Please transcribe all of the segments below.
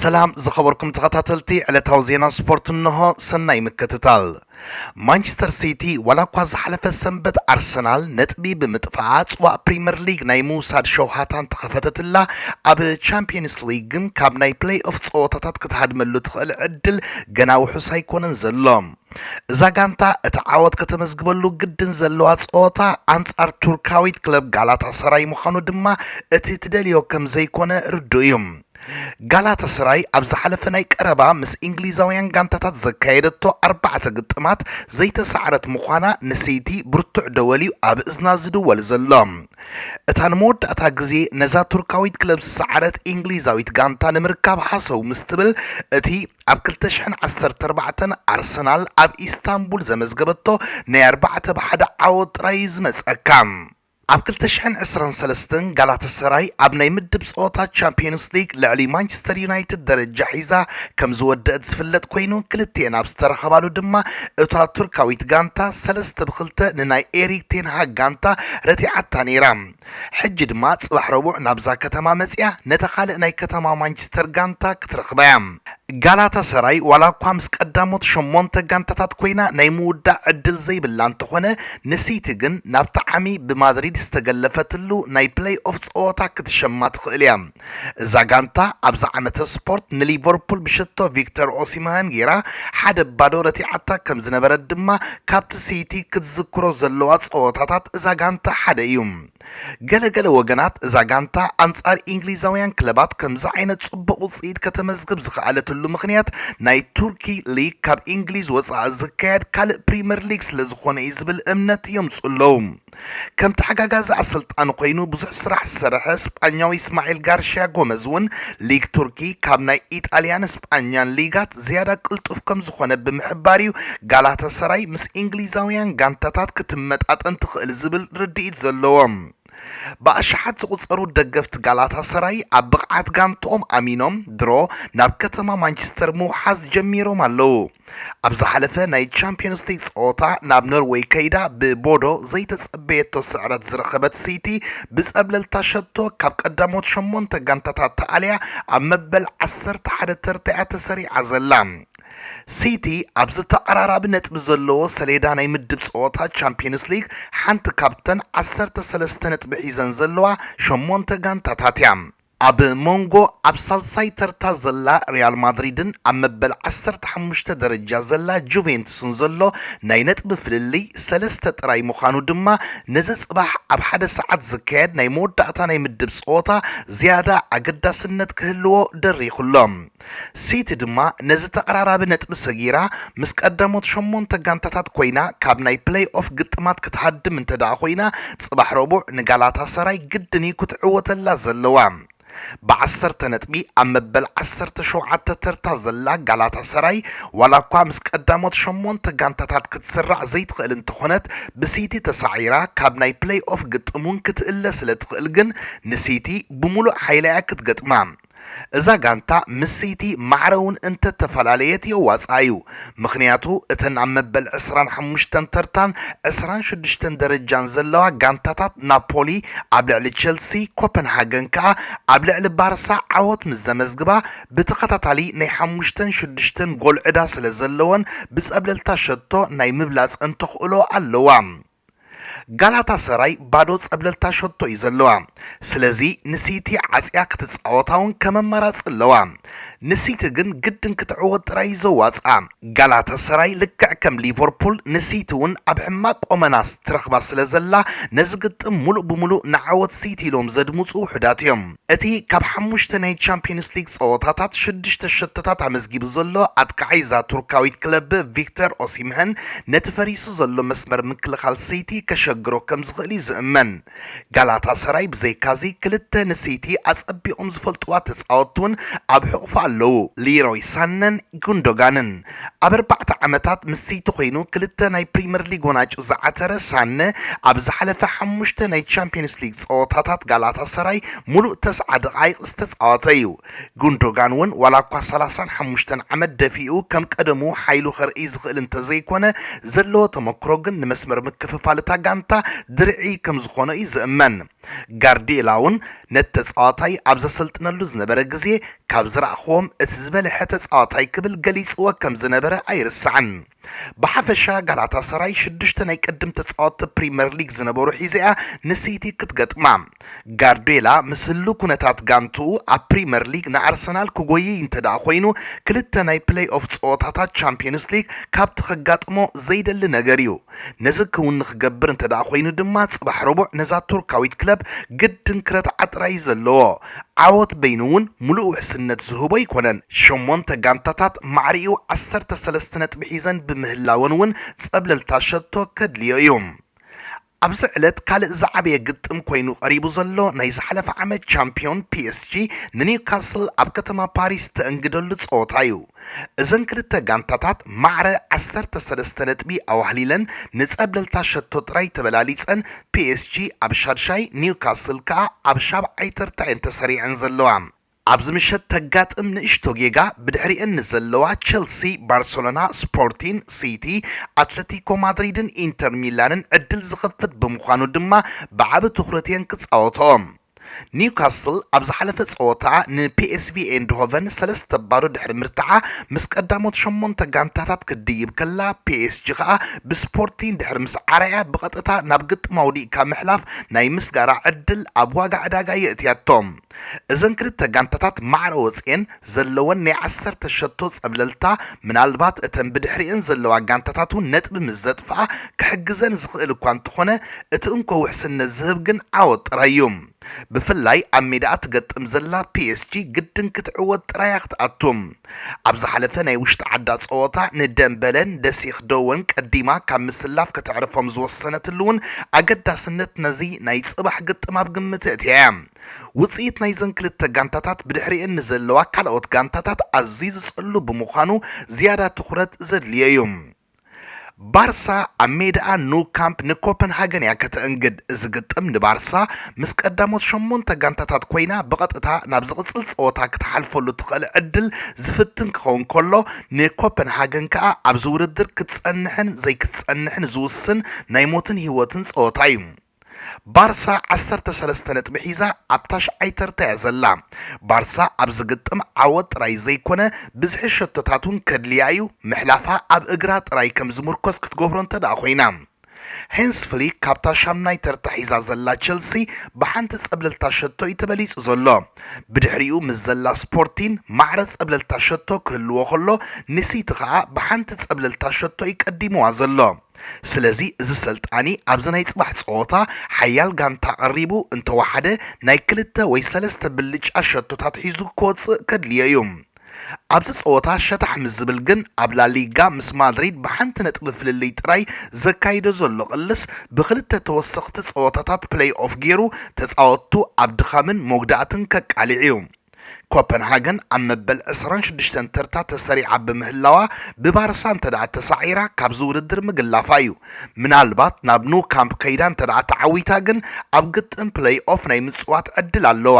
ሰላም ዝኸበርኩም ተኸታተልቲ ዕለታዊ ዜና ስፖርት እንሆ፣ ሰናይ ምክትታል። ማንቸስተር ሲቲ ዋላ እኳ ዝሓለፈ ሰንበት ኣርሰናል ነጥቢ ብምጥፋኣ ጽዋእ ፕሪምየር ሊግ ናይ ምውሳድ ሸውሃታ እንተኸፈተትላ ኣብ ቻምፒየንስ ሊግ ግን ካብ ናይ ፕለይ ኦፍ ጸወታታት ክትሃድመሉ ትኽእል ዕድል ገና ውሑስ ኣይኮነን ዘሎ። እዛ ጋንታ እቲ ዓወት ከተመዝግበሉ ግድን ዘለዋ ጸወታ ኣንጻር ቱርካዊት ክለብ ጋላታ ሰራይ ምዃኑ ድማ እቲ ትደልዮ ከም ዘይኮነ ርዱእ እዩ። ጋላታሰራይ ኣብ ዝሓለፈ ናይ ቀረባ ምስ ኢንግሊዛውያን ጋንታታት ዘካየደቶ ኣርባዕተ ግጥማት ዘይተሳዕረት ምዃና ንሲቲ ብርቱዕ ደወል'ዩ ኣብ እዝና ዝድወል ዘሎ። እታ ንመወዳእታ ግዜ ነዛ ቱርካዊት ክለብ ዝሰዓረት ኢንግሊዛዊት ጋንታ ንምርካብ ሃሰው ምስ ትብል እቲ ኣብ ክልተ ሽሕን ዓሰርተ ኣርባዕተን ኣርሰናል ኣብ ኢስታንቡል ዘመዝገበቶ ናይ ኣርባዕተ ብ ሓደ ዓወት ጥራይ'ዩ ዝመጸካ። ኣብ ክልተ ሽሕን ዕስራን ሰለስተን ጋላታሰራይ ኣብ ናይ ምድብ ጸወታ ቻምፕዮንስ ሊግ ልዕሊ ማንቸስተር ዩናይትድ ደረጃ ሒዛ ከምዝወደእት ዝፍለጥ ኮይኑ ክልቲኤን ኣብ ዝተራኸባሉ ድማ እታ ቱርካዊት ጋንታ ሰለስተ ብ ክልተ ንናይ ኤሪክ ቴን ሃግ ጋንታ ረቲዓታ ነይራ ሕጂ ድማ ጽባሕ ረቡዕ ናብዛ ከተማ መጺኣ ነታ ካልእ ናይ ከተማ ማንቸስተር ጋንታ ክትረኽባ'ያ። ጋላታሰራይ ዋላኳ ምስ ቀዳሞት ሸሞንተ ጋንታታት ኮይና ናይ ምውዳእ ዕድል ዘይብላ እንተኾነ ንሲቲ ግን ናብቲ ዓሚ ብማድሪድ ዝተገለፈትሉ ናይ ፕለይኦፍ ጸወታ ክትሸማ ትኽእል እያ። እዛ ጋንታ ኣብዚ ዓመተ ስፖርት ንሊቨርፑል ብሽቶ ቪክተር ኦሲምሀን ጌራ ሓደ ባዶ ረቲዓታ ከምዝነበረት ድማ ካብቲ ሲቲ ክትዝክሮ ዘለዋ ጸወታታት እዛ ጋንታ ሓደ እዩ። ገለ ገለ ወገናት እዛ ጋንታ ኣንጻር ኢንግሊዛውያን ክለባት ከምዚ ዓይነት ጽቡቕ ውጽኢት ከተመዝግብ ዝኸኣለትሉ ምኽንያት ናይ ቱርኪ ሊግ ካብ ኢንግሊዝ ወጻኢ ዝካየድ ካልእ ፕሪመር ሊግ ስለ ዝኾነ እዩ ዝብል እምነት የምጹ ኣለዉ። ከም ተሓጋጋዚ ኣሰልጣኒ ኮይኑ ብዙሕ ስራሕ ዝሰርሐ ስጳኛዊ እስማዒል ጋርሽያ ጎመዝ እውን ሊግ ቱርኪ ካብ ናይ ኢጣልያን ስጳኛን ሊጋት ዝያዳ ቅልጡፍ ከም ዝኾነ ብምሕባር እዩ ጋላታሰራይ ምስ ኢንግሊዛውያን ጋንታታት ክትመጣጠን ትኽእል ዝብል ርድኢት ዘለዎም ብኣሽሓት ዝቑጸሩ ደገፍቲ ጋላታሰራይ ኣብ ብቕዓት ጋንትኦም ኣሚኖም ድሮ ናብ ከተማ ማንቸስተር ምውሓዝ ጀሚሮም ኣለዉ። ኣብ ዝሓለፈ ናይ ቻምፕዮንስ ሊግ ጸወታ ናብ ኖርወይ ከይዳ ብቦዶ ዘይተጸበየቶ ስዕረት ዝረኸበት ሲቲ ብጸብለልታ ሸቶ ካብ ቀዳሞት ሸሞንተ ጋንታታት ተኣልያ ኣብ መበል ዓሰርተ ሓደ ተርታ'ያ ተሰሪዓ ዘላ። ሲቲ ኣብ ዝተቐራራቢ ነጥቢ ዘለዎ ሰሌዳ ናይ ምድብ ጸወታ ቻምፕዮንስ ሊግ ሓንቲ ካብተን ዓሰርተ ሰለስተ ነጥቢ ሒዘን ዘለዋ ሸሞንተ ጋንታታት እያ። ኣብ ሞንጎ ኣብ ሳልሳይ ተርታ ዘላ ሪያል ማድሪድን ኣብ መበል ዓሰርተ ሓሙሽተ ደረጃ ዘላ ጁቬንቱስን ዘሎ ናይ ነጥቢ ፍልልይ ሰለስተ ጥራይ ምዃኑ ድማ ነዚ ጽባሕ ኣብ ሓደ ሰዓት ዝካየድ ናይ መወዳእታ ናይ ምድብ ጸወታ ዝያዳ ኣገዳስነት ክህልዎ ደሪኹ'ሎ። ሲቲ ድማ ነዚ ተቐራራቢ ነጥቢ ሰጊራ ምስ ቀዳሞት ሸሞንተ ጋንታታት ኮይና ካብ ናይ ፕለይ ኦፍ ግጥማት ክትሃድም እንተድኣ ኮይና ጽባሕ ረቡዕ ንጋላታሰራይ ግድን'ዩ ክትዕወተላ ዘለዋ። ብዓሰርተ ነጥቢ ኣብ መበል ዓሰርተ ሸውዓተ ተርታ ዘላ ጋላታሰራይ ዋላኳ ምስ ቀዳሞት ሸሞንተ ጋንታታት ክትስራዕ ዘይትኽእል እንተኾነት ብሲቲ ተሳዒራ ካብ ናይ ፕለይ ኦፍ ግጥም'ውን ክትእለ ስለትኽእል ግን ንሲቲ ብሙሉእ ሓይላ'ያ ክትገጥማ። እዛ ጋንታ ምስ ሲቲ ማዕረ እውን እንተተፈላለየት የዋጽኣ እዩ፣ ምኽንያቱ እተን ኣብ መበል ዕስራን ሓሙሽተን ተርታን ዕስራን ሽዱሽተን ደረጃን ዘለዋ ጋንታታት ናፖሊ ኣብ ልዕሊ ቸልሲ፣ ኮፐንሃገን ከኣ ኣብ ልዕሊ ባርሳ ዓወት ምስ ዘመዝግባ ብተኸታታሊ ናይ ሓሙሽተን ሽዱሽተን ጎል ዕዳ ስለዘለወን ብጸብለልታ ሸቶ ናይ ምብላጽ እንተኽእሎ ኣለዋ። ጋላታ ሰራይ ባዶ ጸብለልታ ሸቶ እዩ ዘለዋ ስለዚ ንሲቲ ዓጽያ ክትጻወታ ውን ከም ኣማራጺ ኣለዋ ንሲቲ ግን ግድን ክትዕወት ጥራይ እዩ ዘዋጽኣ ጋላታ ሰራይ ልክዕ ከም ሊቨርፑል ንሲቲ ውን ኣብ ሕማቅ ቆመና ትረክባ ስለ ዘላ ነዚ ግጥም ሙሉእ ብሙሉእ ንዓወት ሲቲ ኢሎም ዘድምጹ ውሑዳት እዮም። እቲ ካብ ሓሙሽተ ናይ ቻምፕዮንስ ሊግ ጸወታታት ሽዱሽተ ሸቶታት ኣመዝጊቡ ዘሎ ኣጥቃዓይ እዛ ቱርካዊት ክለብ ቪክተር ኦሲምህን ነቲ ፈሪሱ ዘሎ መስመር ምክልኻል ሲቲ ከሸግሮ ከም ዝኽእል'ዩ ዝእመን። ጋላታሰራይ ብዘይካ'ዚ ክልተ ንሲቲ ኣጸቢቖም ዝፈልጥዋ ተጻወትቲ'ውን ኣብ ሕቝፋ ኣለዉ፣ ሊሮይ ሳነን ጉንዶጋንን። ኣብ ኣርባዕተ ዓመታት ምስ ሲቲ ኮይኑ ክልተ ናይ ፕሪመር ሊግ ዋናጩ ዝዓተረ ሳነ፣ ኣብ ዝሓለፈ ሓሙሽተ ናይ ቻምፕዮንስ ሊግ ጸወታታት ጋላታሰራይ ሙሉእ ተስዓ ደቓይቕ ዝተጻወተ'ዩ። ጉንዶጋን'ውን ዋላኳ ሰላሳን ሓሙሽተን ዓመት ደፊኡ ከም ቀደሙ ሓይሉ ከርእይ ዝኽእል እንተዘይኮነ፣ ዘለዎ ተመክሮ ግን ንመስመር ምክፍፋል እታ ጋንታ ድርዒ ከምዝኾኖ'ዩ ዝእመን። ጋርዲዮላ'ውን ነቲ ተጻዋታይ ኣብ ዘሰልጥነሉ ዝነበረ ግዜ ካብ ዝረኣኹዎም እቲ ዝበልሐ ተጻዋታይ ክብል ገሊጽዎ ከም ዝነበረ ኣይርሳዕን። ብሓፈሻ ጋላታሰራይ ሽዱሽተ ናይ ቅድም ተጻወትቲ ፕሪመር ሊግ ዝነበሩ ሒዛ'ያ ንሲቲ ክትገጥማ። ጋርዲዮላ ምስ ህሉው ኩነታት ጋንትኡ ኣብ ፕሪመር ሊግ ንኣርሰናል ክጎይይ እንተድኣ ኮይኑ ክልተ ናይ ፕለይ ኦፍ ጸወታታት ቻምፕዮንስ ሊግ ካብቲ ከጋጥሞ ዘይደሊ ነገር'ዩ። ነዚ ክውን ንክገብር እንተድኣ ኮይኑ ድማ ፅባሕ ረቡዕ ነዛ ቱርካዊት ክለብ ግድን ክረትዓ ጥራይ እዩ ዘለዎ። ዓወት በይኑ እውን ሙሉእ ውሕስነት ዝህቦ ኣይኮነን። ሸሞንተ ጋንታታት ማዕሪኡ ዓሰርተ ሰለስተ ነጥቢ ሒዘን ብምህላወን እውን ፀብለልታ ሸቶ ከድልዮ እዩ። ኣብዚ ዕለት ካልእ ዝዓበየ ግጥም ኮይኑ ቀሪቡ ዘሎ ናይ ዝሓለፈ ዓመት ቻምፒዮን ፒኤስጂ ንኒውካስል ኣብ ከተማ ፓሪስ ተእንግደሉ ፀወታ እዩ። እዘን ክልተ ጋንታታት ማዕረ ዓሰርተ ሰለስተ ነጥቢ ኣዋህሊለን ንጸብለልታ ሸቶ ጥራይ ተበላሊጸን፣ ፒኤስጂ ኣብ ሻድሻይ፣ ኒውካስል ከኣ ኣብ ሻብዓይ ተርታ እየን ተሰሪዐን ዘለዋ። ኣብዚ ምሸት ተጋጥም ንእሽቶ ጌጋ ብድሕሪኤን ንዘለዋ ቸልሲ፣ ባርሰሎና፣ ስፖርቲን፣ ሲቲ፣ ኣትለቲኮ ማድሪድን ኢንተር ሚላንን ዕድል ዝኸፍት ብምዃኑ ድማ ብዓቢ ትኹረት እየን ክጻወትኦ። ኒውካስል ኣብ ዝሓለፈ ጸወታኣ ንፒኤስቪ ኤይንድሆቨን ሰለስተ ባዶ ድሕሪ ምርትዓ ምስ ቀዳሞት ሸሞንተ ጋንታታት ክትድይብ ከላ ፒኤስጂ ከኣ ብስፖርቲኝ ድሕሪ ምስዓራ'ያ ብቐጥታ ናብ ግጥም ኣውዲቕካ ምሕላፍ ናይ ምስጋራ ዕድል ኣብ ዋጋ ዕዳጋ የእትያቶ። እዘን ክልተ ጋንታታት ማዕረ ወጺኤን ዘለወን ናይ ዓሰርተ ሸቶ ጸብለልታ፣ ምናልባት እተን ብድሕሪኤን ዘለዋ ጋንታታት'ውን ነጥቢ ምስ ዘጥፍኣ ክሕግዘን ዝኽእል እኳ እንተኾነ፣ እቲ እንኮ ውሕስነት ዝህብ ግን ዓወት ጥራይ'ዩ። ብፍላይ ኣብ ሜዳኣ ትገጥም ዘላ ፒኤስጂ ግድን ክትዕወት ጥራይ'ያ ክትኣቱ። ኣብ ዝሓለፈ ናይ ውሽጢ ዓዳ ጸወታ ንደምበለን ደሲክ ደወን ቀዲማ ካብ ምስላፍ ከተዕርፎም ዝወሰነትሉ'ውን ኣገዳስነት ነዚ ናይ ጽባሕ ግጥም ኣብ ግምት ኣእትያ'ያ። ውጽኢት ናይዘን ክልተ ጋንታታት ብድሕሪኤን ንዘለዋ ካልኦት ጋንታታት ኣዝዩ ዝጸሉ ብምዃኑ ዝያዳ ትኹረት ዘድልዮ'ዩ። ባርሳ ኣብ ሜዳኣ ኑ ካምፕ ንኮፐንሃገን እያ ከተእንግድ። እዚ ግጥም ንባርሳ ምስ ቀዳሞት ሸሞንተ ጋንታታት ኮይና ብቐጥታ ናብ ዝቕጽል ጸወታ ክትሓልፈሉ ትኽእል ዕድል ዝፍትን ክኸውን ከሎ ንኮፐንሃገን ከኣ ኣብዚ ውድድር ክትጸንሕን ዘይክትጸንሕን ዝውስን ናይ ሞትን ህይወትን ጸወታ'ዩ። ባርሳ ዓሰርተ ሰለስተ ነጥቢ ሒዛ ኣብ ታሽዓይ ተርታ እያ ዘላ። ባርሳ ኣብዚ ግጥም ዓወት ጥራይ ዘይኮነ ብዝሒ ሸቶታት እውን ከድልያ እዩ፣ ምሕላፋ ኣብ እግራ ጥራይ ከም ዝምርኮስ ክትገብሮ እንተድኣ ኮይና። ሀንስ ፍሊክ ካብታ ሻምናይ ተርታ ሒዛ ዘላ ቸልሲ ብሓንቲ ጸብለልታ ሸቶ እዩ ተበሊጹ ዘሎ። ብድሕሪኡ ምስ ዘላ ስፖርቲን ማዕረ ጸብለልታ ሸቶ ክህልዎ ከሎ ንሲቲ ከኣ ብሓንቲ ጸብለልታ ሸቶ እዩ ቀዲምዋ ዘሎ። ስለዚ እዚ ሰልጣኒ ኣብዚ ናይ ጽባሕ ጸወታ ሓያል ጋንታ ቀሪቡ እንተወሓደ ናይ ክልተ ወይ ሰለስተ ብልጫ ሸቶታት ሒዙ ክወጽእ ከድልዮ እዩ። ኣብዚ ጸወታ ሸታሕ ምስ ዝብል ግን ኣብ ላሊጋ ምስ ማድሪድ ብሓንቲ ነጥቢ ፍልልይ ጥራይ ዘካይዶ ዘሎ ቅልስ ብክልተ ተወሰኽቲ ጸወታታት ፕለይ-ኦፍ ጌሩ ተጻወትቱ ኣብ ድኻምን መጉዳእትን ከቃልዕ እዩ። ኮፐንሃገን ኣብ መበል ዕስራን ሽዱሽተን ተርታ ተሰሪዓ ብምህላዋ ብባርሳ እንተድኣ ተሳዒራ ካብዚ ውድድር ምግላፋ እዩ። ምናልባት ናብ ኑ ካምፕ ከይዳ እንተድኣ ተዓዊታ ግን ኣብ ግጥም ፕለይ ኦፍ ናይ ምጽዋት ዕድል ኣለዋ።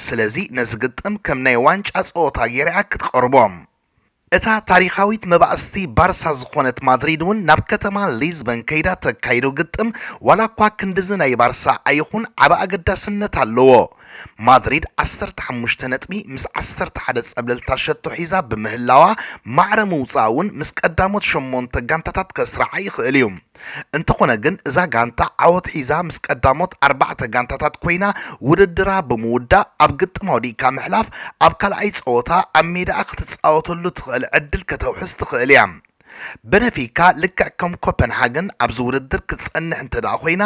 ስለዚ ነዚ ግጥም ከም ናይ ዋንጫ ጸወታ ገይራ'ያ ክትቐርቦ። እታ ታሪኻዊት መባእስቲ ባርሳ ዝኾነት ማድሪድ'ውን ናብ ከተማ ሊዝበን ከይዳ ተካይዶ ግጥም ዋላኳ ክንድዚ ናይ ባርሳ ኣይኹን ዓቢ ኣገዳስነት ኣለዎ። ማድሪድ ዓሰርተ ሓሙሽተ ነጥቢ ምስ ዓሰርተ ሓደ ጸብለልታ ሸቶ ሒዛ ብምህላዋ ማዕረ ምውጻኣ'ውን ምስ ቀዳሞት ሸሞንተ ጋንታታት ከስርዓ ይኽእል'ዩ። እንተኾነ ግን እዛ ጋንታ ዓወት ሒዛ ምስ ቀዳሞት ኣርባዕተ ጋንታታት ኮይና ውድድራ ብምውዳእ ኣብ ግጥም ኣውዲቕካ ምሕላፍ ኣብ ካልኣይ ጸወታ ኣብ ሜዳኣ ክትጻወተሉ ትኽእል ዕድል ከተውሕስ ትኽእል እያ። በነፊካ ልክዕ ከም ኮፐንሃገን ኣብዚ ውድድር ክትጸንሕ እንተድኣ ኮይና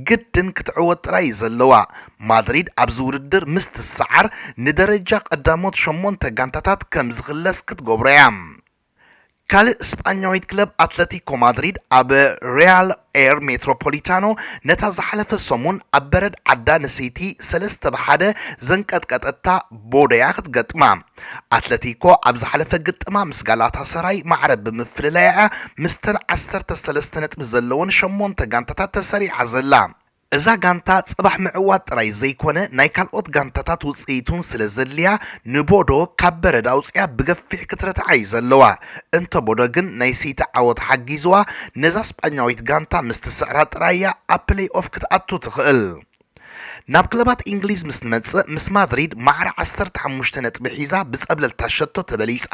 ግድን ክትዕወት ጥራይ እዩ ዘለዋ። ማድሪድ ኣብዚ ውድድር ምስ ትሰዓር ንደረጃ ቀዳሞት ሸሞንተ ጋንታታት ከም ዝኽለስ ክትገብሮ እያ። ካልእ ስጳኛዊት ክለብ ኣትለቲኮ ማድሪድ ኣብ ሪያል ኤር ሜትሮፖሊታኖ ነታ ዝሓለፈ ሰሙን ኣብ በረድ ዓዳ ንሲቲ ሰለስተ ብ ሓደ ዘንቀጥቀጠታ ቦደያ ክትገጥማ። ኣትለቲኮ ኣብ ዝሓለፈ ግጥማ ምስ ጋላታሰራይ ማዕረ ብምፍልላይ'ያ ምስተን ዓሰርተ ሰለስተ ነጥቢ ዘለወን ሸሞንተ ጋንታታት ተሰሪዓ ዘላ። እዛ ጋንታ ጽባሕ ምዕዋት ጥራይ ዘይኮነ ናይ ካልኦት ጋንታታት ውጽኢት'ውን ስለ ዘድልያ ንቦዶ ካብ በረድ ኣውጺኣ ብገፊሕ ክትረትዓ'ዩ ዘለዋ። እንተ ቦዶ ግን ናይ ሲቲ ዓወት ሓጊዝዋ ነዛ ስጳኛዊት ጋንታ ምስ ትስዕራ ጥራይ'ያ ኣብ ፕለይኦፍ ክትኣቱ ትኽእል። ናብ ክለባት ኢንግሊዝ ምስ ንመጽእ ምስ ማድሪድ ማዕረ ዓሰርተ ሓሙሽተ ነጥቢ ሒዛ ብጸብለልታ ሸቶ ተበሊጻ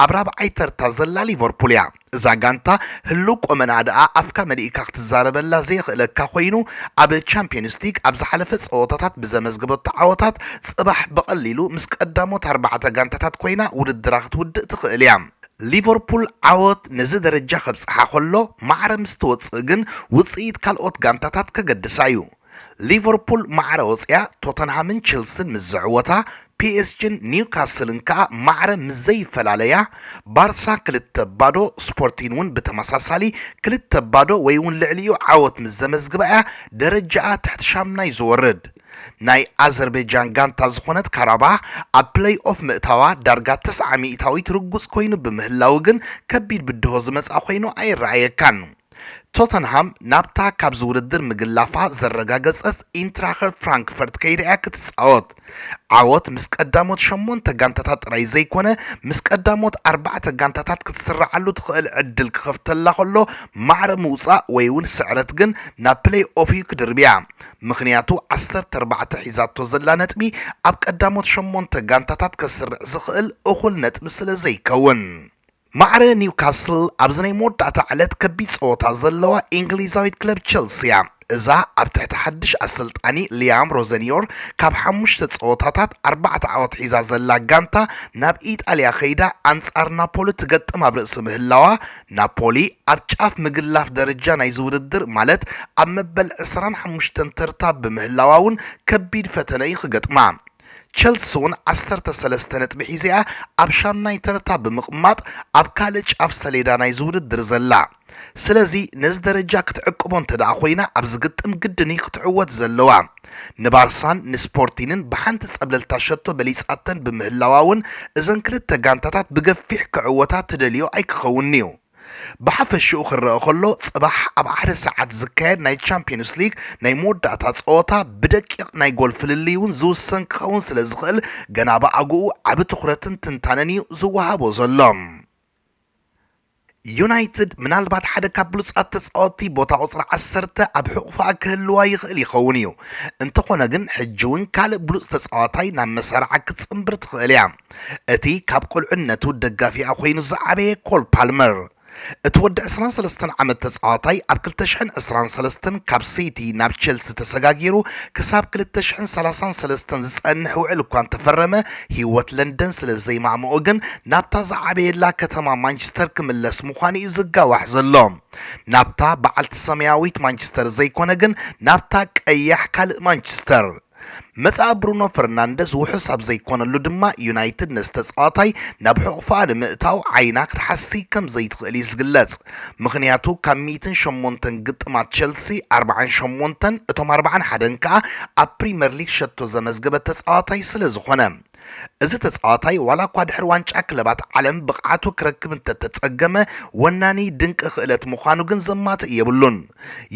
ኣብ ራብዓይ ተርታ ዘላ ሊቨርፑል'ያ። እዛ ጋንታ ህልው ቆመንኣ ደኣ ኣፍካ መሊእካ ክትዛረበላ ዘየኽእለካ ኮይኑ ኣብ ቻምፕዮንስ ሊግ ኣብ ዝሓለፈ ጸወታታት ብዘመዝገበቶ ዓወታት ጽባሕ ብቐሊሉ ምስ ቀዳሞት ኣርባዕተ ጋንታታት ኮይና ውድድራ ክትውድእ ትኽእል እያ። ሊቨርፑል ዓወት ነዚ ደረጃ ከብጽሓ ከሎ ማዕረ ምስ ተወጽእ ግን ውጽኢት ካልኦት ጋንታታት ከገድሳ እዩ። ሊቨርፑል ማዕረ ወጺኣ ቶተንሃምን ቼልስን ምስ ዝዕወታ፣ ፒኤስጂን ኒውካስልን ከኣ ማዕረ ምስ ዘይፈላለያ፣ ባርሳ ክልተ ባዶ፣ ስፖርቲን'ውን ብተመሳሳሊ ክልተ ባዶ ወይ'ውን ልዕሊኡ ዓወት ምስ ዘመዝግባ'ያ ደረጃኣ ትሕቲ ሻምናይ ዝወርድ። ናይ ኣዘርበጃን ጋንታ ዝኾነት ካራባህ ኣብ ፕለይኦፍ ምእታዋ ዳርጋ ተስዓ ሚእታዊት ርጉጽ ኮይኑ ብምህላዉ ግን ከቢድ ብድሆ ዝመጽኣ ኮይኑ ኣይረኣየካን። ቶተንሃም ናብታ ካብዚ ውድድር ምግላፋ ዘረጋገጸት ኢንትራኸ ፍራንክፈርት ከይዳ'ያ ክትጻወት። ዓወት ምስ ቀዳሞት ሸሞንተ ጋንታታት ጥራይ ዘይኮነ ምስ ቀዳሞት ኣርባዕተ ጋንታታት ክትስርዓሉ ትኽእል ዕድል ክኸፍተላ ከሎ ማዕረ ምውጻእ ወይ'ውን ስዕረት ግን ናብ ፕለይኦፍ'ዩ ክድርብያ ምኽንያቱ ዓሰርተ ኣርባዕተ ሒዛቶ ዘላ ነጥቢ ኣብ ቀዳሞት ሸሞንተ ጋንታታት ከስርዕ ዝኽእል እኹል ነጥቢ ስለዘይከውን። ማዕረ ኒውካስል ኣብዚ ናይ መወዳእታ ዕለት ከቢድ ጸወታ ዘለዋ ኢንግሊዛዊት ክለብ ቸልሲ እያ። እዛ ኣብ ትሕቲ ሓድሽ ኣሰልጣኒ ሊያም ሮዘንዮር ካብ ሓሙሽተ ጸወታታት ኣርባዕተ ዓወት ሒዛ ዘላ ጋንታ ናብ ኢጣልያ ከይዳ ኣንጻር ናፖሊ ትገጥም ኣብ ርእሲ ምህላዋ ናፖሊ ኣብ ጫፍ ምግላፍ ደረጃ ናይዚ ውድድር ማለት ኣብ መበል ዕስራን ሓሙሽተን ተርታ ብምህላዋ'ውን ከቢድ ፈተነ እዩ ክገጥማ። ቸልሲ'ውን ዓሰርተ ሰለስተ ነጥቢ ሒዛ'ያ ኣብ ሻምናይ ተርታ ብምቕማጥ ኣብ ካልእ ጫፍ ሰሌዳ ናይዚ ውድድር ዘላ። ስለዚ ነዚ ደረጃ ክትዕቅቦ እንተድኣ ኮይና ኣብዚ ግጥም ግድን'ዩ ክትዕወት ዘለዋ። ንባርሳን ንስፖርቲንን ብሓንቲ ጸብለልታ ሸቶ በሊጻተን ብምህላዋ'ውን እዘን ክልተ ጋንታታት ብገፊሕ ክዕወታ ትደልዮ ኣይክኸውንን'ዩ። ብሓፈሽኡ ክረኣ ከሎ ጽባሕ ኣብ ሓደ ሰዓት ዝካየድ ናይ ቻምፕዮንስ ሊግ ናይ መወዳእታ ጸወታ ብደቂቕ ናይ ጎል ፍልልይ እውን ዝውሰን ክኸውን ስለ ዝኽእል ገና ብኣግኡ ዓቢ ትኹረትን ትንታነን እዩ ዝወሃቦ ዘሎ። ዩናይትድ ምናልባት ሓደ ካብ ብሉጻት ተጻወትቲ ቦታ ቁጽሪ ዓሰርተ ኣብ ሕቑፋ ክህልዋ ይኽእል ይኸውን እዩ፣ እንተኾነ ግን ሕጂ እውን ካልእ ብሉጽ ተጻዋታይ ናብ መሳርዓ ክትጽንብር ትኽእል እያ። እቲ ካብ ቁልዕነቱ ደጋፊኣ ኮይኑ ዝዓበየ ኮል ፓልመር፣ እቲ ወዲ ዕስራን ሰለስተን ዓመት ተጻዋታይ ኣብ ክልተ ሽሕን ዕስራን ሰለስተን ካብ ሲቲ ናብ ቸልሲ ተሰጋጊሩ ክሳብ ክልተ ሽሕን ሰላሳን ሰለስተን ዝጸንሕ ውዕል እኳ እንተፈረመ ህይወት ለንደን ስለ ዘይማእምኦ ግን ናብታ ዝዓበየላ ከተማ ማንቸስተር ክምለስ ምዃኑ'ዩ ዝጋዋሕ ዘሎ ናብታ በዓልቲ ሰማያዊት ማንቸስተር ዘይኮነ ግን ናብታ ቀያሕ ካልእ ማንቸስተር መጻኢ ብሩኖ ፈርናንደዝ ውሑስ ኣብ ዘይኮነሉ ድማ ዩናይትድ ነዚ ተጻዋታይ ናብ ሕቑፋኣ ንምእታው ዓይና ክትሓስይ ከም ዘይትኽእል'ዩ ዝግለጽ። ምኽንያቱ ካብ ሚእትን ሸሞንተን ግጥማት ቸልሲ ኣርብዓን ሸሞንተን እቶም ኣርብዓን ሓደን ከኣ ኣብ ፕሪመር ሊግ ሸቶ ዘመዝገበ ተጻዋታይ ስለ ዝኾነ። እዚ ተጻዋታይ ዋላ እኳ ድሕሪ ዋንጫ ክለባት ዓለም ብቕዓቱ ክረክብ እንተተጸገመ ወናኒ ድንቂ ክእለት ምዃኑ ግን ዘማትእ የብሉን።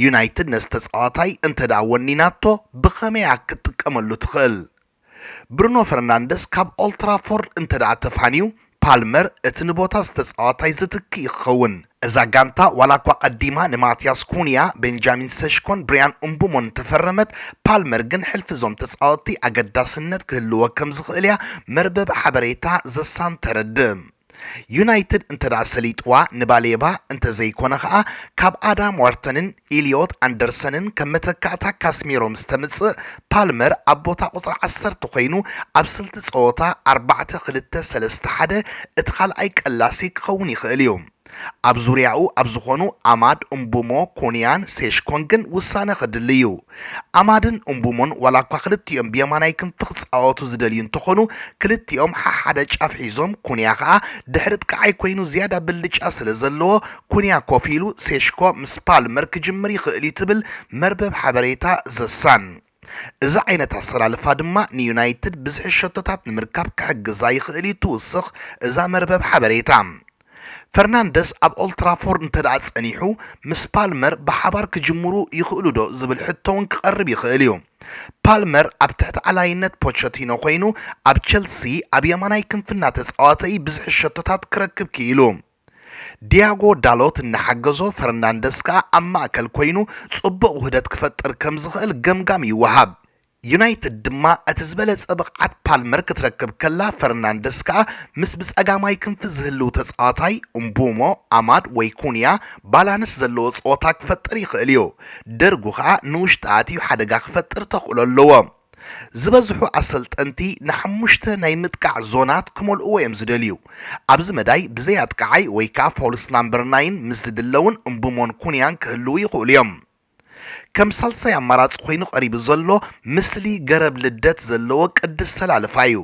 ዩናይትድ ነዚ ተጻዋታይ እንተድኣ ወኒናቶ ብኸመይ'ያ ክትጥቀመሉ ትኽእል? ብሩኖ ፈርናንደስ ካብ ኦልትራፎርድ እንተድኣ ተፋንዩ ፓልመር እቲ ንቦታ ዝተጻዋታይ ዝትክእ እዩ ክኸውን። እዛ ጋንታ ዋላኳ ቀዲማ ንማትያስ ኩንያ፣ ቤንጃሚን ሰሽኮን ብርያን እምቡሞን እንተፈረመት፣ ፓልመር ግን ሕልፊ እዞም ተጻወትቲ ኣገዳስነት ክህልዎ ከምዝኽእል እያ መርበብ ሓበሬታ ዘሳን ተረድእ። ዩናይትድ እንተደኣ ሰሊጥዋ ንባሌባ እንተዘይኮነ ከኣ ካብ ኣዳም ዋርተንን፣ ኢልዮት ኣንደርሰንን ከም መተካእታ ካስሚሮ ምስ ተምጽእ፣ ፓልመር ኣብ ቦታ ቁጽሪ ዓሰርተ ኮይኑ ኣብ ስልቲ ጸወታ ኣርባዕተ ክልተ ሰለስተ ሓደ እቲ ካልኣይ ቀላሲ ክኸውን ይኽእል እዩ። ኣብ ዙርያኡ ኣብ ዝኾኑ ኣማድ፣ እምቡሞ፣ ኩንያን ሴሽኮን ግን ውሳነ ከድሊ እዩ። ኣማድን እምቡሞን ዋላኳ ክልቲኦም ብየማናይ ክንፊ ክጻወቱ ዝደልዩ እንተኾኑ ክልቲኦም ሓሓደ ጫፍ ሒዞም ኩንያ ከኣ ድሕሪ ጥቃዓይ ኮይኑ ዝያዳ ብልጫ ስለዘለዎ ኩንያ ኮፍ ኢሉ ሴሽኮ ምስ ፓልመር ክጅምር ይኽእል'ዩ ትብል መርበብ ሓበሬታ ዘ ሳን። እዚ ዓይነት ኣሰላልፋ ድማ ንዩናይትድ ብዝሒ ሸቶታት ንምርካብ ክሕግዛ ይኽእል'ዩ ትውስኽ እዛ መርበብ ሓበሬታ። ፈርናንደስ ኣብ ኦልትራፎርድ እንተድኣ ጸኒሑ ምስ ፓልመር ብሓባር ክጅምሩ ይኽእሉ'ዶ ዝብል ሕቶ'ውን ክቐርብ ይኽእል'ዩ። ፓልመር ኣብ ትሕቲ ኣላይነት ፖቸቲኖ ኮይኑ ኣብ ቸልሲ ኣብ የማናይ ክንፊ እናተጻወተ'ዩ ብዝሒ ሸቶታት ክረክብ ክኢሉ። ዲያጎ ዳሎት እናሓገዞ፣ ፈርናንደስ ከኣ ኣብ ማእከል ኰይኑ ጽቡቕ ውህደት ክፈጥር ከም ዝኽእል ገምጋም ይወሃብ። ዩናይትድ ድማ እቲ ዝበለጸ ብቕዓት ፓልመር ክትረክብ ከላ፣ ፈርናንደስ ከኣ ምስ ብጸጋማይ ክንፊ ዝህልው ተጻዋታይ፣ እምቡሞ፣ ኣማድ ወይ ኩንያ፣ ባላንስ ዘለዎ ጸወታ ክፈጥር ይኽእል'ዩ። ደርጉ ከኣ ንውሽጢ ኣትዩ ሓደጋ ክፈጥር ተኽእሎ ኣለዎ። ዝበዝሑ ኣሰልጠንቲ ንሓሙሽተ ናይ ምጥቃዕ ዞናት ክመልእዎ እዮም ዝደልዩ። ኣብዚ መዳይ ብዘይ ኣጥቃዓይ ወይ ከኣ ፋልስ ናምበር ናይን ምስ ዝድለውን እምቡሞን ኩንያን ክህልዉ ይኽእሉ እዮም። ከም ሳልሳይ ኣማራጺ ኮይኑ ቀሪቡ ዘሎ ምስሊ ገረብ ልደት ዘለዎ ቅዲ ኣሰላልፋ እዩ።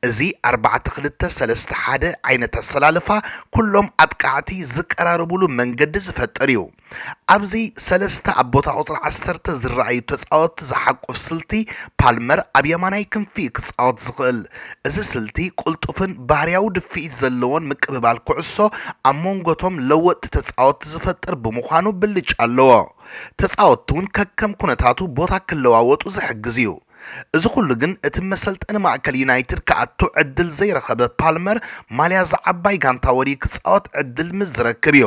እዚ ኣርባዕተ ክልተ ሰለስተ ሓደ ዓይነት ኣሰላልፋ ኩሎም ኣጥቃዕቲ ዝቀራረብሉ መንገዲ ዝፈጥር እዩ። ኣብዚ ሰለስተ ኣብ ቦታ ቁጽሪ ዓሰርተ ዝረኣዩ ተጻወትቲ ዝሓቁፍ ስልቲ፣ ፓልመር ኣብ የማናይ ክንፊ'ዩ ክጻወት ዝኽእል። እዚ ስልቲ፣ ቅልጡፍን ባህርያዊ ድፍኢት ዘለዎን ምቅብባል ኩዕሶ ኣብ ሞንጎ'ቶም ለወጥቲ ተጻወትቲ ዝፈጥር ብምዃኑ ብልጫ ኣለዎ። ተጻወትቲ'ውን ከከም ኩነታቱ ቦታ ክለዋወጡ ዝሕግዝ'ዩ። እዚ ኩሉ ግን እቲ መሰልጠኒ ማእከል ዩናይትድ ክኣቱ ዕድል ዘይረኸበ ፓልመር ማልያ ዝዓባይ ጋንታ ወርዩ ክጻወት ዕድል ምስ ዝረክብ'ዩ።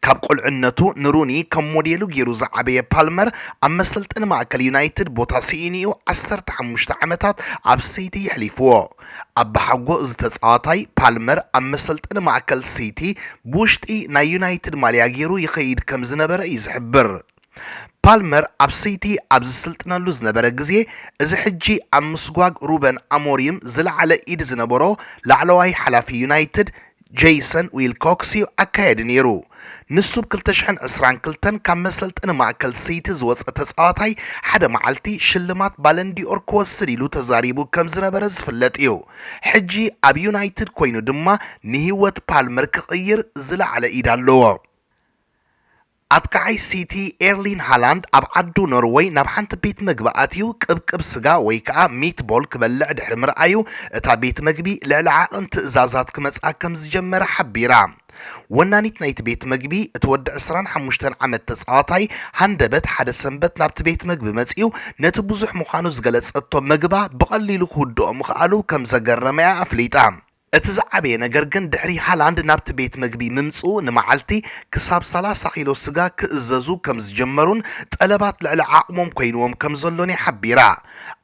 ካብ ቁልዕነቱ ንሩኒ ከም ሞዴሉ ገይሩ ዝዓበየ ፓልመር፣ ኣብ መሰልጠኒ ማእከል ዩናይትድ ቦታ ስኢኑ'ዩ ዓሰርተ ሓሙሽተ ዓመታት ኣብ ሲቲ የሕሊፍዎ። ኣባሓጎ እዚ ተጻዋታይ፣ ፓልመር ኣብ መሰልጠኒ ማእከል ሲቲ ብውሽጢ ናይ ዩናይትድ ማልያ ገይሩ ይኸይድ ከም ዝነበረ እዩ ዝሕብር። ፓልመር ኣብ ሲቲ ኣብ ዝስልጥነሉ ዝነበረ ግዜ፣ እዚ ሕጂ ኣብ ምስጓግ ሩበን ኣሞሪም ዝለዓለ ኢድ ዝነበሮ ላዕለዋይ ሓላፊ ዩናይትድ ጀይሰን ዊልኮክስ'ዩ ኣካያዲ ነይሩ። ንሱ ብ ክልተ ሽሕን ዕስራን ክልተን ካብ መሰልጠኒ ማእከል ሲቲ ዝወጸ ተጻዋታይ ሓደ መዓልቲ ሽልማት ባለንዲ'ኦር ክወስድ ኢሉ ተዛሪቡ ከም ዝነበረ ዝፍለጥ'ዩ። ሕጂ ኣብ ዩናይትድ ኮይኑ ድማ ንህይወት ፓልመር ክቕይር ዝለዓለ ኢድ ኣለዎ። ኣጥቃዓይ ሲቲ ኤርሊን ሃላንድ ኣብ ዓዱ ኖርወይ ናብ ሓንቲ ቤት መግቢ ኣትዩ ቅብቅብ ስጋ ወይ ከኣ ሚትቦል ክበልዕ ድሕሪ ምርኣዩ እታ ቤት መግቢ ልዕሊ ዓቕን ትእዛዛት ክመጽኣ ከም ዝጀመረ ሓቢራ። ወናኒት ናይቲ ቤት መግቢ እቲ ወዲ ዕስራን ሓሙሽተን ዓመት ተጻዋታይ ሃንደበት ሓደ ሰንበት ናብቲ ቤት መግቢ መጺኡ ነቲ ብዙሕ ምዃኑ ዝገለጸቶ መግባ ብቐሊሉ ክውድኦ ምኽኣሉ ከም ዘገረመ'ያ ኣፍሊጣ። እቲ ዝዓበየ ነገር ግን ድሕሪ ሃላንድ ናብቲ ቤት መግቢ ምምጽኡ ንመዓልቲ ክሳብ ሰላሳ ኪሎ ስጋ ክእዘዙ ከም ዝጀመሩን ጠለባት ልዕሊ ዓቕሞም ኮይንዎም ከም ዘሎን እያ ሓቢራ።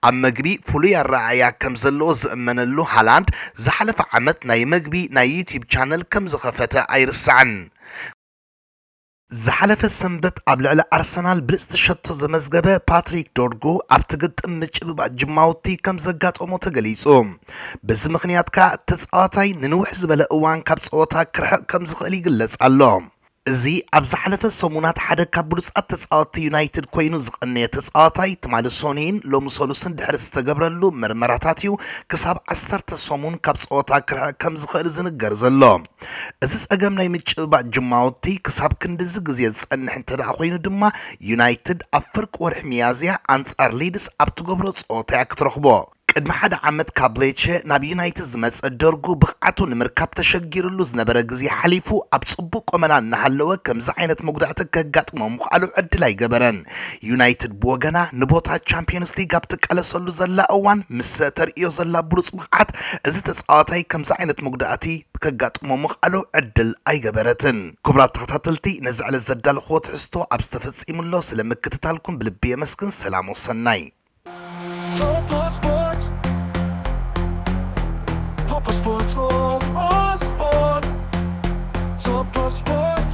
ኣብ መግቢ ፍሉይ ኣረኣእያ ከም ዘለዎ ዝእመነሉ ሃላንድ ዝሓለፈ ዓመት ናይ መግቢ ናይ ዩትዩብ ቻነል ከም ዝኸፈተ ኣይርሳዕን። ዝሓለፈ ሰንበት ኣብ ልዕሊ ኣርሰናል ብልጽቲ ሸቶ ዘመዝገበ ፓትሪክ ዶርጉ ኣብቲ ግጥም ምጭብባጥ ጅማውቲ ከም ዘጋጠሞ ተገሊጹ። በዚ ምኽንያት ከኣ እቲ ተጻዋታይ ንንውሕ ዝበለ እዋን ካብ ጸወታ ክርሕቕ ከም ዝኽእል ይግለጽ ኣሎ። እዚ ኣብ ዝሓለፈ ሰሙናት ሓደ ካብ ብሉጻት ተጻወትቲ ዩናይትድ ኮይኑ ዝቐነየ ተጻዋታይ፣ ትማሊ ሶኑይን ሎሚ ሰሉስን ድሕሪ ዝተገብረሉ መርመራታት'ዩ ክሳብ ዓሰርተ ሰሙን ካብ ጸወታ ክርሕቕ ከም ዝኽእል ዝንገር ዘሎ። እዚ ጸገም ናይ ምጭብባጥ ጅማውቲ ክሳብ ክንድዚ ግዜ ዝጸንሕ እንተደኣ ኮይኑ ድማ ዩናይትድ ኣብ ፍርቂ ወርሒ ሚያዝያ ኣንጻር ሊድስ ኣብ ትገብሮ ጸወታ እያ ክትረኽቦ። ቅድሚ ሓደ ዓመት ካብ ሌቸ ናብ ዩናይትድ ዝመጸ ዶርጉ ብቕዓቱ ንምርካብ ተሸጊርሉ ዝነበረ ግዜ ሓሊፉ ኣብ ጽቡቕ ቈመና እናሃለወ ከምዚ ዓይነት መጉዳእቲ ከጋጥሞ ምኽኣሉ ዕድል ኣይገበረን። ዩናይትድ ብወገና ንቦታ ቻምፕዮንስ ሊግ ኣብ ትቃለሰሉ ዘላ እዋን ምስ ተርእዮ ዘላ ብሉጽ ብቕዓት እዚ ተጻዋታይ ከምዚ ዓይነት መጉዳእቲ ከጋጥሞ ምኽኣሉ ዕድል ኣይገበረትን። ክቡራት ተኸታተልቲ ነዚ ዕለት ዘዳለኹዎ ትሕዝቶ ኣብ ዝተፈጺሙ'ሎ ስለ ምክትታልኩም ብልቢ የመስግን ሰላም ወሰናይ። Popo Sport, Popo Sport, Popo Sport, Popo Sport.